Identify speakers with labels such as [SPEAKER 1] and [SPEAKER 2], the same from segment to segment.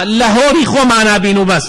[SPEAKER 1] لە هۆڵی خۆمانا بین و بەس.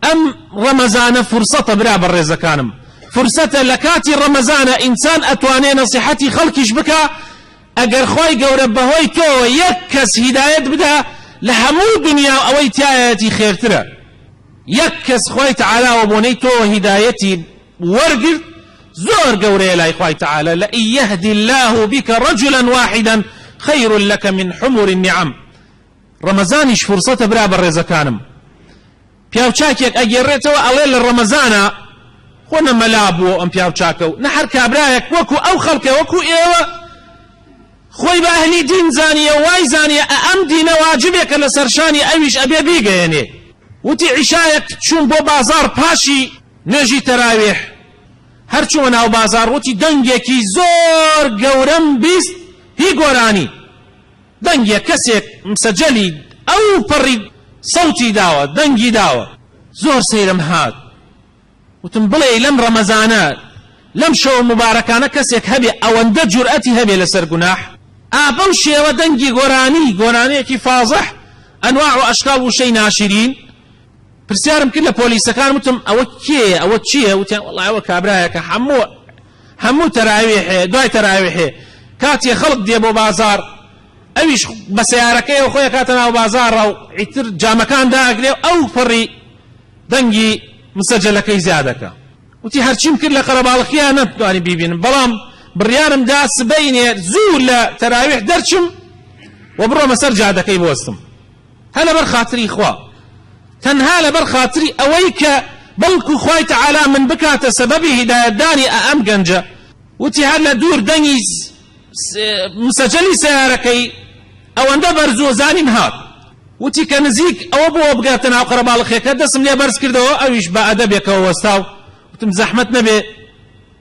[SPEAKER 1] ئەم ڕەمەزانە فرسەتە برا بەڕێزەکانم فرسەتە لە کاتی ڕەمەزانە ئینسان ئەتوانێ نەسیحەتی خەڵکیش بکا ئەگەر خوای گەورە بەهۆی تۆوە یەک کەس هیدایەت بدا لە هەموو دنیا و ئەوەی تایەتی خێرترە یەک کەس خوای تەعالا وە بۆنەی تۆوە هیدایەتی وەرگرت زۆر گەورەیە لای خوای تەعالا لە یهدی الله بک رجلا واحدا خیر لك من حمر النعم ڕەمەزانیش فرسەتە برا بەڕێزەکانم پیاو چاکێک ئەگێڕێتەوە ئەڵێ لە ڕەمەزانا خۆ نە مەلا بووە ئەم پیاو چاکە و نە هەر کابرایەک وەکو ئەو خەڵکە وەکو ئێوە خۆی بە ئەهلی دین زانیە وای زانیە ئە ئەم دینە واجبێکە لە سەرشانی ئەویش ئەبێ بیگەیەنێ وتی عیشایەک چوون بۆ بازار پاشی نوێژی تەراوێح هەر چووە ناو بازار وتی دەنگێکی زۆر گەورەم بیست هی گۆرانی دەنگێ کەسێک مسەجەلی ئەو پەڕی سەوتی داوە دەنگی داوە زۆر سەیرم هات وتم بڵێی لەم ڕەمەزانە لەم شەوە موبارەکانە کەسێک هەبێ ئەوەندە جورئەتی هەبێ لەسەر گوناح ئا بەو شێوە دەنگی گۆرانی گۆرانیەکی فازح ئەنواع و ئەشکاڵ وشەی ناشرین پرسیارم کرد لە پۆلیسەکان وتم ئەوە کێیە ئەوە چییە وتیان وەڵا ئەوە کابرایەکە هەموو هەموو تەراویحێ دوای تەراویحێ کاتێ خەڵک دێ بۆ بازاڕ ئەویش بە سەیارەکەیەوە خۆی ئەکاتە ناو بازاڕە و ئیتر جامەکان داگرێ و ئەو پەڕی دەنگی مسەجەلەکەی زیادەکە وتی هەرچیم کرد لە قەرەباڵخیا نەتوانی بیبینم بەڵام بڕیارم دا سبەینێ زوو لە تەراویح دەرچم و بڕۆمە سەر جادەکەی بۆستم هەر لەبەر خاتری خوا تەنها لەبەر خاتری ئەوەی کە بەڵکو خوای تەعالا من بکاتە سەبەبی هیدایەتدانی ئە ئەم گەنجە وتی هەر لە دوور دەنگی مسەجەلی سەیارەکەی ئەوەندە بەرزوە زانیم هات وتی کە نزیک ئەوە بۆ بگاتە ناو قەرەباڵخێکە دەسم لێ بەرز کردەوە ئەویش بە ئەدەبێکەوە وەستا و وتم زەحمەت نەبێ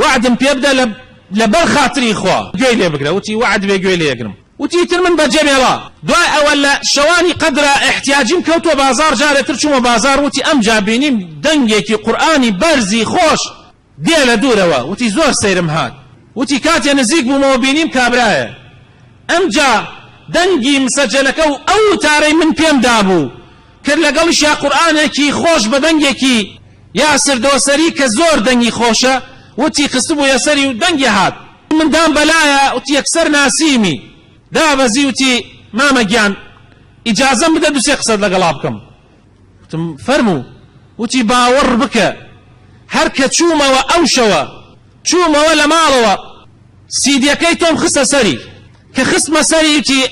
[SPEAKER 1] وەعدم پێ بدە لە لە بەر خاتری خوا گوێی لێ بگرە وتی وەعد بێ گوێی لێ ئەگرم وتی ئیتر من بە جەمێڵە دوای ئەوە لە شەوانی قەدرا ئیحتیاجیم کەوتووە بازاڕ جارێ تر چوومە بازاڕ وتی ئەمجا بینیم دەنگێکی قورئانی بەرزی خۆش دێ لە دوورەوە وتی زۆر سەیرم هات وتی کاتێ نزیک بوومەوە بینیم کابرایە ئەمجا دەنگی مسەجەلەکە و ئەو وتارەی من پێم دابوو کرد لەگەڵیشیا قورئانێکی خۆش بە دەنگێکی یاسر دۆسەری کە زۆر دەنگی خۆشە وتی خستبوویە سەری و دەنگی هات من دام بەلایە وتی یەکسەر ناسیمی دابەزی وتی مامە گیان ئیجازەم بدە دوو سێ قسەت لەگەڵا بکەم وتم فەرموو وتی باوەڕ بکە هەر کە چوومەوە ئەو شەوە چوومەوە لە ماڵەوە سیدیەکەی تۆم خستە سەری کە خستمە سەری وتی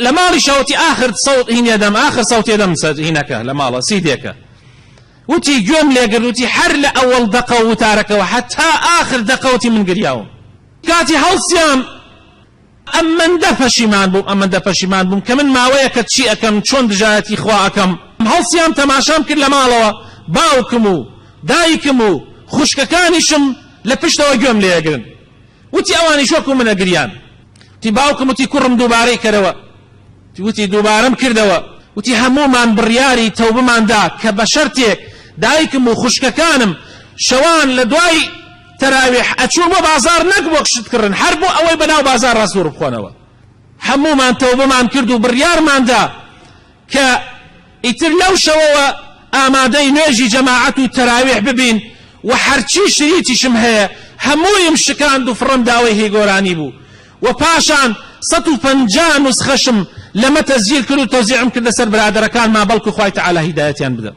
[SPEAKER 1] لە ماڵیشە وتی ئاخر سەوت هینێ دەم ئاخر سەوتێ دەم سە هینەکە لە ماڵە سیدێکە وتی گوێم لێگرت وتی هەر لە ئەوەڵ دەقە و وتارەکەەوە حەتا ئاخر دەقەوتی من گریاوم کاتی هەڵسیام ئەمەندە پەشیمان بووم ئەمەندە پەشیمان بووم کە من ماوەیەکە چی ئەکەم چۆن دژایەتی خوا ئەکەم هەڵسیام تەماشام کرد لە ماڵەوە باوکم و دایکم و خوشکەکانیشم لە پشتەوە گوێم لێگرن وتی ئەوانیش وەکو منە گریان وتی باوکم وتی کوڕم دووبارەی کەرەوە وتی دووبارەم کردەوە وتی هەموومان بڕیاری تەوبمان دا کە بە شەرتێک دایکم و خوشکەکانم شەوان لە دوای تەراویح ئەچوون بۆ بازار نەک بۆ شت کڕن هەر بۆ ئەوەی بەناو بازار ڕاستور بخۆنەوە هەموومان تەوبمان کرد و بڕیارماندا کە ئیتر لەو شەوەوە ئامادەی نوێژی جەماعەت و تەراویح ببین و هەرچی شریتیشم هەیە هەموویم شکاند و فڕم داوەی هی گۆرانی بوو و پاشان سەد و پەنجا نوسخەشم لەمە تەسجیل کرد و تەوزیعم کردە سەر برادەرەکانما بەڵکو خوای تەعالا هیدایەتیان بدەم.